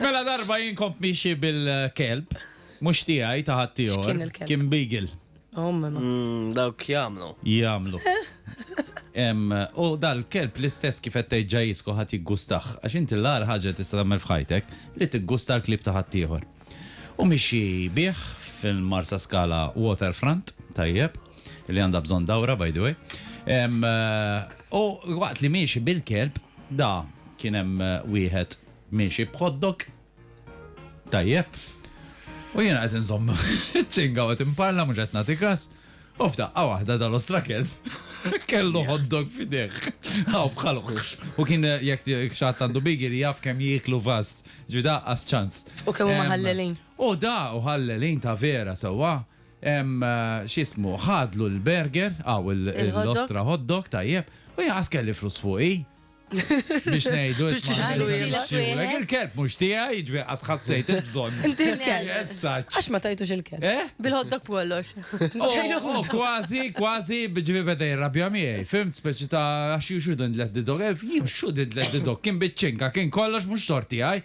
Mela darba jien kont miexi bil-kelb, mhux tiegħi ta' ħaddieħor, kien beagle. Mm, dawk jagħmlu. Jagħmlu. U dal-kelb l-istess kif qed tgħid ġajisku ħadd jiggustaħ, għax inti l-agħar ħaġa tista' tagħmel f'ħajtek li tiggusta l-klib ta' ħaddieħor. U mixi bih fil-Marsa Skala Waterfront, tajjeb, li għandha bżonn dawra by the way. U waqt li miexi bil-kelb, Da, kien hemm wieħed miexi b'hotdog. Tajjeb. U jiena qed inżomm iċ-ċinga u qed inparla mhux qed nagħti kas, u f'daqqa waħda dal-ostra kelb kellu hotdog f'idejh. Hawn f'ħalq. U kien jekk xi ħadd għandu bigili jaf kemm jieklu fast. Ġifieri daqqas ċans. U kemm huma ħallelin. U da, u ħallelin ta' vera sewwa. x'ismu, ħadlu l-burger, hawn il-ostra hot dog, tajjeb, u jien qas kelli flus fuqi. Biex ngħidu isma' il-kelb mhux tiegħi, jiġri qas ħassejt il-bżonn. Inti l-kelb. Għax ma tajtux il-kelb. Eh? Bil-hot dog kollox. Kważi, kważi bieġri beda jirrabja miegħi. Fimt speċi ta' għax juxu din l-didog, jimxu din l-didog, kien biċċinka, kien kollox mhux sorti għaj.